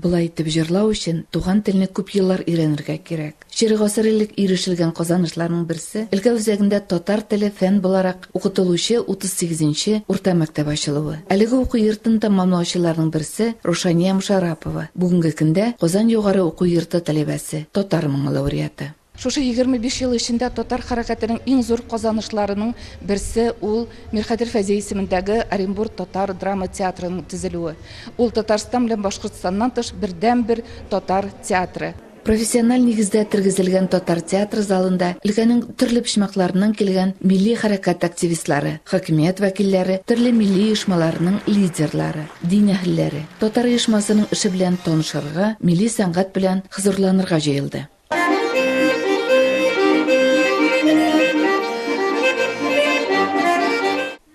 Болай итеп җырлау өчен туган телне күп еллар өйрәнергә кирәк. Чирек гасыр элек ирешелгән казанышларның берсе, өлкә үзәгендә татар теле фән буларак укытылучы 38 нче урта мәктәп ачылуы. Әлеге уку йортын тәмамлаучыларның берсе, Рушания Мошарапова, бүгенге көндә Казан югары уку йорты таләбәсе, татар моңы лауреаты. Шушы егерме биш ел эчендә татар хәрәкәтенең иң зур казанышларының берсе ул Мирхәйдәр Фәйзи исемендәге Оренбур татар драма театрының төзелүе. Ул Татарстан белән Башкортстаннан тыш бердәнбер татар театры. Профессиональ нигездә тергезелгән татар театры залында өлкәнең төрле почмакларыннан килгән милли хәрәкәт активистлары, хакимият вәкилләре, төрле милли оешмаларының лидерлары, дин әһелләре, татар оешмасының эше белән танышырга, милли сәнгать белән хзурланырга җыелды.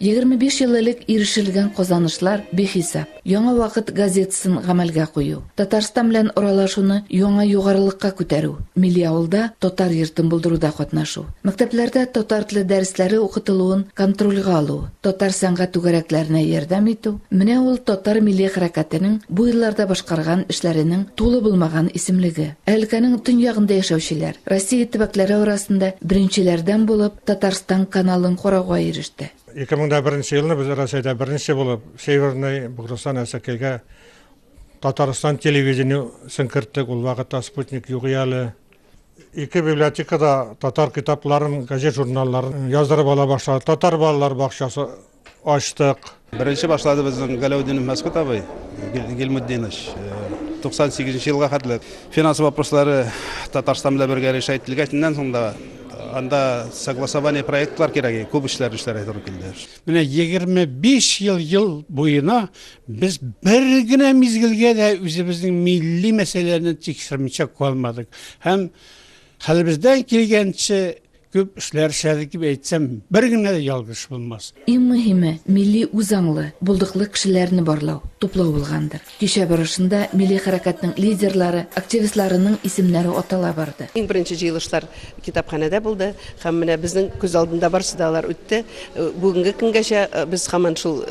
Егерме биш ел элек ирешелгән казанышлар бихисап. Яңа вакыт газетасын гамәлгә кую, Татарстан белән аралашуны яңа югарылыкка күтәрү, милли авылда татар йортын булдыруда катнашу, мәктәпләрдә татар теле дәресләре укытылуын контрольгә алу, Татар сәнгать түгәрәкләренә ярдәм итү, менә ул татар милли хәрәкәтенең бу елларда башкарган эшләренең тулы булмаган исемлеге. Ә өлкәнең төньягында яшәүчеләр, Россия төбәкләре арасында беренчеләрдән булып Татарстан каналын карауга иреште. 2001 елны без Рәсәйдә беренче булып Северный Бугрыстан Әсәкәйгә Татарстан телевидение сын керттек, ул вакытта спутник юк иде әле. Ике библиотекада татар китапларын, газет-журналларын яздырып ала башлады. Татар балалар бакчасы ачтык. Беренче башлады безнең Галәүдинов Мәскүт абый Гилмутдинович. 98 нчы елга хәтле финанс вопрослары Татарстан белән бергә решать ителгәч, иннән соң да анда согласование проектлар кирәк, күп эшләр эшләргә туры килде. Менә 25 ел ел буена без бер генә мизгелгә дә үзебезнең милли мәсьәләләрне тикшермичә калмадык. Һәм хәлебездән килгәнчә күп эшләр эшләдек дип әйтсәм, бер генә дә ялгыш булмас. Иң мөһиме, милли үзаңлы, булдыклы кешеләрне барлау, туплау булгандыр. Кичә барышында милли хәрәкәтнең лидерлары, активистларының исемнәре атала барды. Иң беренче җыелышлар китапханәдә булды һәм менә безнең күз алдында барысы да алар үтте. Бүгенге көнгәчә без һаман шул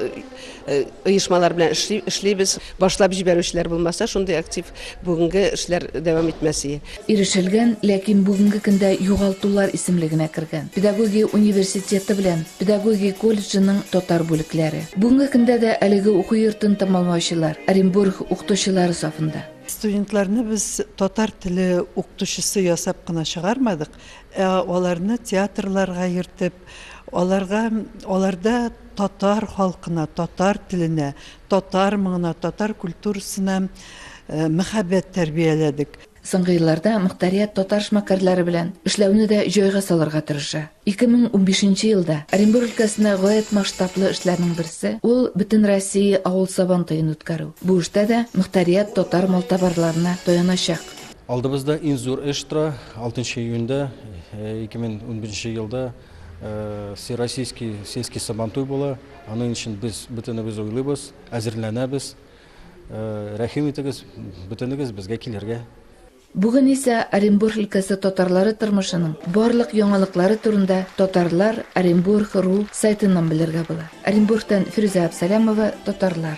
оешмалар белән эшлибез. Башлап җибәрүчеләр булмаса, шундый актив бүгенге эшләр дәвам итмәс ие. ирешелгән, ләкин бүгенге көндә югалтулар исемлегенә кергән, педагогия университеты белән педагогия колледжының татар бүлекләре. Бүгенге көндә дә әлеге уку йортын тәмамлаучылар Оренбург укытучылары сафында. Студентларны без татар теле укытучысы ясап кына чыгармадык, ә аларны театрларга йөртеп, аларга, аларда татар халкына, татар теленә, татар моңына, татар культурасына мәхәббәт тәрбияләдек. Соңгы елларда мохтарият татар шмакәрләре белән эшләүне дә җайга салырга тырыша. 2015 елда Оренбур өлкәсендә гаять масштаблы эшләрнең берсе, ул Бөтенроссия авыл Сабантуен үткәрү. Бу эштә дә мохтарият татар малтабарларына таяначак. Алдыбызда иң зур эш тора, 6 нчы июньдә, 2015 елда Всероссийский сельский Сабантуй була. Аның өчен без бөтенебез уйлыйбыз, әзерләнәбез. Рәхим итегез, бөтенегез безгә килергә. Бүген исә Оренбург өлкәсе татарлары тормышының барлык яңалыклары турында Татарлар, Оренбург, ру сайтыннан белергә була. Оренбургтан Фирүзә Абсалямова, Татарлар.